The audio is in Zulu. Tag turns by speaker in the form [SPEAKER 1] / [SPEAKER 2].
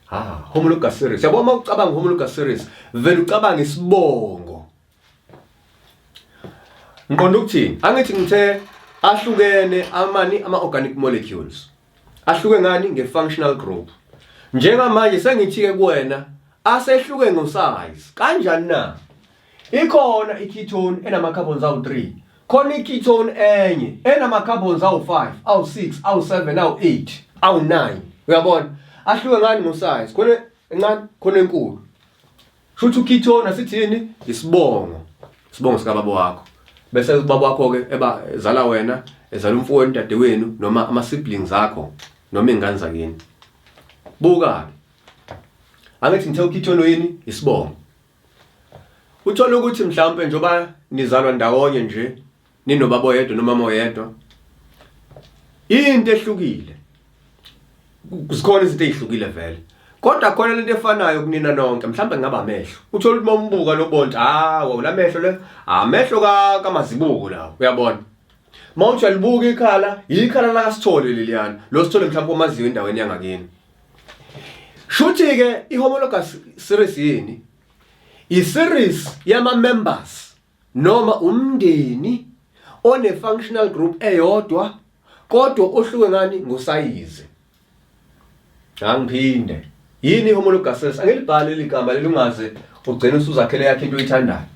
[SPEAKER 1] ha ah, homologous series yabo uma ucabanga homologous series vele ucabanga isibongo ngiqonda ukuthini angithi ngithe ahlukene amani ama organic molecules ahluke ngani nge functional group njengamanje sengithi ke kuwena asehluke ngo size kanjani na Ikhona i-ketone enama-carbons awu-3 khona i-ketone enye enama-carbons awu-5 awu-6 awu-7 awu-8 awu-9 uyabona ahluke ngani ngosize khona encane khona enkulu shuthi u-ketone asithini isibongo isibongo sikababa wakho bese ubaba wakho-ke eba ezala wena ezala umfowenu udadewenu noma ama-siblings akho noma iy'ngane zakini buka-ke angithi ngithe u-ketone yini isibongo Uthola ukuthi mhlawumbe njoba nizalwa ndawonye nje ninobaba oyedwa nomama oyedwa. Into ehlukile. Kuzikhona izinto ezihlukile vele. Kodwa khona lento efanayo kunina nonke mhlawumbe ngaba amehlo. Uthola ukuthi mombuka lo bonto ah wawula amehlo le amehlo ka kamazibuko lawo uyabona. Mawuthi uyalibuka ikhala yikhala la kasithole leliyana. Lo sithole mhlawumbe omaziyo endaweni yangakini. Shuthi ke ihomologous series yini? I series yama members noma umndeni one functional group eyodwa kodwa ohluke ngani ngosayizi. Angiphinde. Yini ihomologous series? Angilibhali ligama lelungaze ugcina usuzakhele yakhe into oyithandayo.